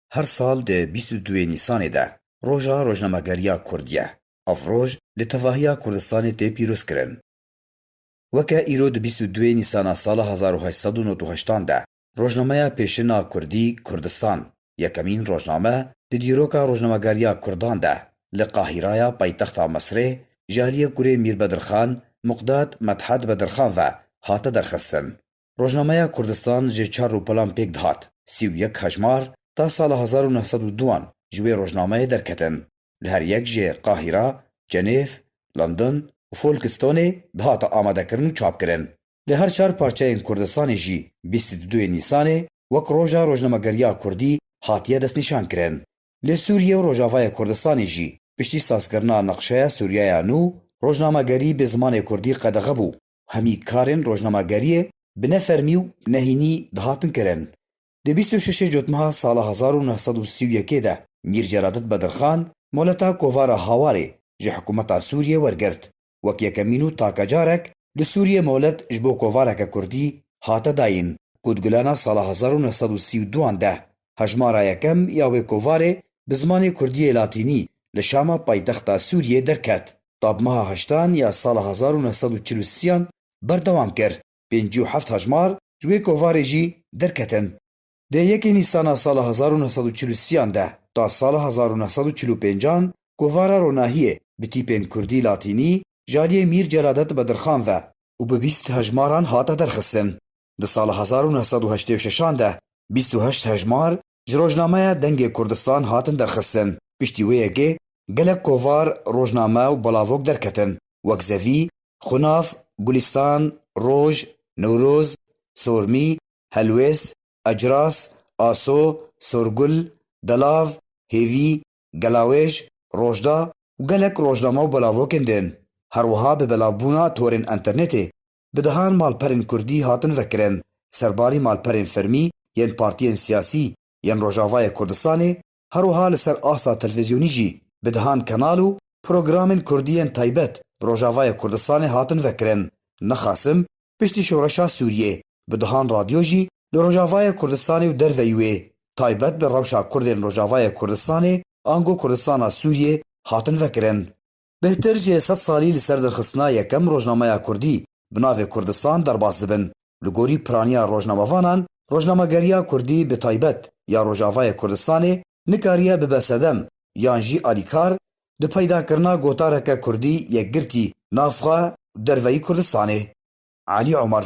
Her sal di bîst û duê Nîsanê de Roja Rojnamegeriya Kurd ye. Ev roj li tevahiya Kurdistanê tê pîrozkirin. Weke îro di bîst û duê Nîsana sala hezar û heşt sed û nod û heştan de rojnameya pêşin a Kurdî Kurdistan, yekemîn rojname di dîroka rojnamegeriya Kurdan de li Qahîraya paytexta Misrê ji aliyê kurê Mîr Bedirxan Muqdad Medhad Bedirxan ve hate derxistin. Rojnameya Kurdistan ji çar rûpelan pêk dihat. Sî û yek hejmar ta sala hezar û neh sed û du an ji wê rojnameyê derketin. Li her yek jê Qahîra, Cenêv, London û Folkistonê dihate amadekirin û çapkirin. Li her çar parçeyên Kurdistanê jî bîst û du yê Nîsanê wek Roja Rojnamegeriya Kurdî hatiye destnîşankirin. Li Sûriye û Rojavayê Kurdistanê jî piştî sazkirina Neqşeya Sûriyaya Nû, rojnamegerî bi zimanê Kurdî qedexe bû. Hemî karên rojnamageriyê bi ne fermî û nehînî dihatin kirin. Di bîst û şeşê cotmeha sala hezar û neh sed û sî û yekê de Mîr Celadit Bedirxan moleta kovara Hawarê ji hikûmeta Sûriyê wergirt. Wek yekemîn û taka carek li Sûriyê molet ji bo kovareke kurdî hate dayîn ku di gulana sala hezar û neh sed û sî û du an de Hejmara yekem ya wê kovarê bi zimanê kurdiyê latînî li Şama paytexta Sûriyê derket. Tabmeha heştan ya sala hezar û neh sed û çil û siyan berdewam kir, pêncî û heft hejmar ji wê kovarê jî derketin. Dê yekê Nîsana sala hezar û neh sed û çil û siyan de ta sala hezar û neh sed û çil û pêncan kovara ronahiyê bi tîpên kurdî latînî ji aliyê Mîr Celadet Bedirxan ve û bi bîst hejmaran hate derxistin. Di sala hezar û neh sed û heştê û şeşan de bîst û heşt hejmar ji rojnameya Dengê Kurdistan hatin derxistin. Piştî wê yekê gelek kovar, rojname û balavok derketin wek Zevî, Xunav, Gulîstan, Roj, Newroz, Sormî, Helwêst, Ecras, Aso, Sorgul, Delav, Hêvî, Gelawêj, Rojda û gelek rojname û balavokên din. Her wiha bi belavbûna torên enternetê Bi dehan malperên kurdî hatin vekirin ser barî malperên fermî yên partiyên siyasî yên Rojavayê Kurdistanê, herwiha li ser asta televîzyonî jî bi dehan kanal û programên kurdî yên taybet bi Rojavayê Kurdistanê hatin vekirin. Nexasim piştî şoreşa Sûriyê bi dehan radyo jî li Rojavayê Kurdistanê û derveyî wê taybet bi rewşa kurdên Rojavayê Kurdistanê ango Kurdistana Sûriyê hatin vekirin. Bêhtir ji sed salî li ser derxistina yekem rojnameya kurdî bi navê Kurdistan derbas dibin. Li gorî piraniya rojnamevanan, rojnamegeriya kurdî bi taybet ya Rojavayê Kurdistanê nikariye bibe sedem yan jî alîkar di peydakirina gotareke kurdî yekgirtî nav xwe û derveyî Kurdistanê. Alî Omer.